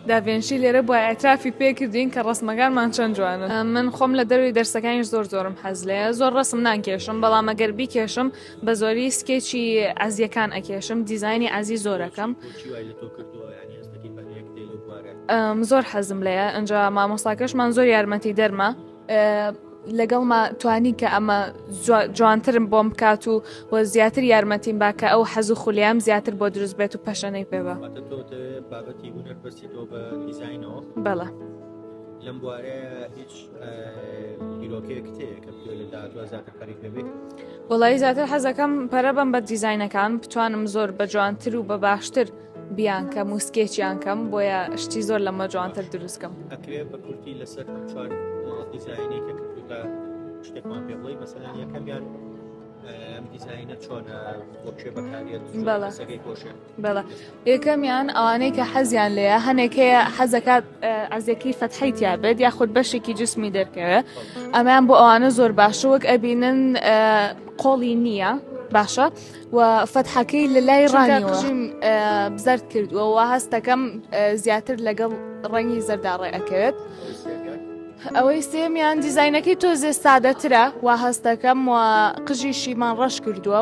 داڤێنشی لێرە بوایە ئەعترافی پێ کردین کە ڕەسمەکانمان چەند جوانن من خۆم لە دەروی دەرسەکانیش زۆر زۆرم حەز لێ زۆر ڕەسم ناکێشم بەڵام ئەگەر بیکێشم بە زۆری سکێچی ئازیەکان ئەکێشم دیزانی ئازی زۆرەکەم زۆر حەزم لێە ئەنج مامۆستاکەشمان زۆر یارمەتی دەرمە لەگەڵما توانی کە ئەمە جوانترم بۆم بکات و و زیاتر یارمەتیم باکە ئەو حەز و خولیام زیاتر بۆ دروست بێت و پەشەنەی پێ بە بەڵە لەم بوارە هیچ وڵی زیاتر حەزەکەم پەرە بم بە دیزینەکان بتوانم زۆر بە جوانتر و بە باشتر بیانکەم و سکێچیان کەم بۆیە شتی زۆر لەمە جوانتر دروستکەم ئەکرێ بە کورتی لەسەر چوار دیزایانی کە کردوکە شتێکمان پێ بڵی مەسەلەن یەکەمیان ئەم دیزایینە چۆنە بۆ کێ بەکارێت سەگەی گۆشێ بەڵە یەکەمیان ئەوانەی کە حەزیان لەیە هەنێک هەیە حەزەکات ئازێکی فەتحی تیابێت یاخود بەشێکی جسمی دەرکەوێت ئەمان بۆ ئەوانە زۆر باشە وەک ئەبینن قۆڵی نییە باشە و فەتحەکەی لە لای ڕانیوە بزرد کردووەوە هەستەکەم زیاتر لەگەڵ ڕەنگی زەرداڕێ ئەکەوێت ئەوەی سێمیان دیزینەکەی تۆزێ سادەترە و هەستەکەم و قژی شیمان ڕەش کردووە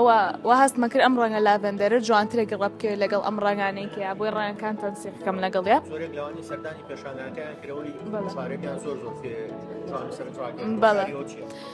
و هەستمە کرد ئەم ڕەنگە لاڤندەرە جوانترە گەڕە بکەوێت لەگەڵ ئەم ڕنگانەی کە بۆی ڕەنگەکان تەنسیقەکەم لەگەڵ یا بەڵێ